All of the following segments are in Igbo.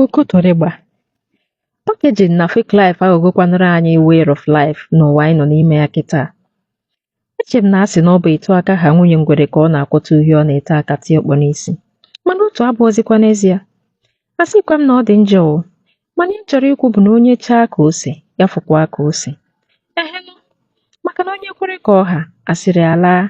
Okotorịgba Packaging na Fake Life aghọgokwanụrụ anyị Way of Life n'ụwa anyị nọ n'ime ya kịta. Eche m na a sị na ọ bụ etu aka ha nwunye ngwere ka ọ na-akwọta uhie ọ na-ete aka tie ọkpọ n'isi mana otu abụọzikwa n'ezie a sịkwa m na ọ dị njọ o mana ihe m chọrọ ikwu bụ na onye chaa ka ose ya fụkwa ka ose ehenụ maka na onye kwere ka ọ ha asịrị alaa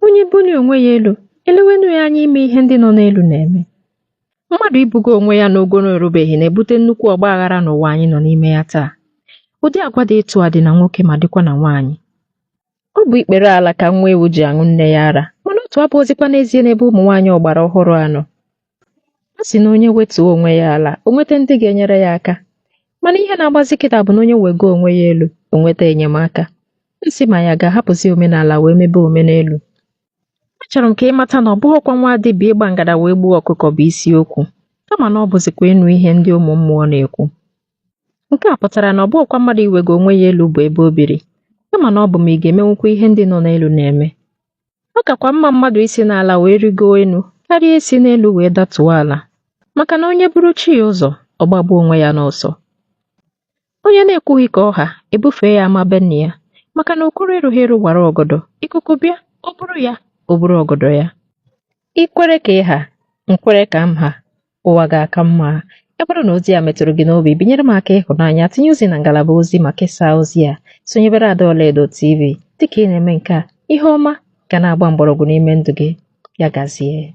Onye buli onwe ya elu, elewenu ya anya ime ihe ndị nọ n'elu na-eme. Mmadụ ibugo onwe ya n'ogo na o rubeghị na-ebute nnukwu ọgba aghara n'ụwa anyị nọ n'ime ya taa. Ụdị agwa dị etu a dị na nwoke ma dịkwa na nwaanyị. Ọ bụ ikpere ala ka nwa ewu ji aṅụ nne ya ara, mana otu abụghịzikwa n'ezie n'ebe ụmụ nwaanyị ọgbara ọhụrụ a nọ. a sị na onye wetuo onwe ya ala o nweta ndị ga-enyere ya aka mana ihe na-agbazi kịta bụ na onye wego onwe ya elu o nweta enyemaka m sị ma ya ga-ahapụzi omenala wee mebe omenelu achọrọ m ka ị mata na ọ bụghịkwa nwa dibịa ịgba ngada wee gbuo ọkụkọ bụ isiokwu kama na ọ bụzikwa ịnụ ihe ndị ụmụ mmụọ na-ekwu nke a pụtara na ọ bụghịkwa mmadụ iwego onwe ya elu bụ ebe o biri kama na ọ bụ ma ị ga-emenwukwa ihe ndị nọ n'elu na-eme ọ kakwa mma mmadụ isi n'ala wee rịgoo elu karịa isi n'elu wee datuo ala maka na onye buru chi ya ụzọ ọ gbagbuo onwe ya n'ọsọ onye na-ekwughị ka ọ ha e bufee ya ama be nna ya maka na okoro erughị eru wara ọgọdọ ikuku bịa o buru ya o buru ọgọdọ ya i kwere ka ị ha m kwere ka m ha ụwa ga-aka mma ya bụrụ na ozi a metụrụ gị n'obi binyere m aka ịhụnanya tinye ozi na ngalaba ozi ma kesaa ozi a sonyebere ada ọlaedo tv dịka ị na-eme nke a ihe ọma ga na-agba mgbọrọgwụ n'ime ndụ gị ya gazie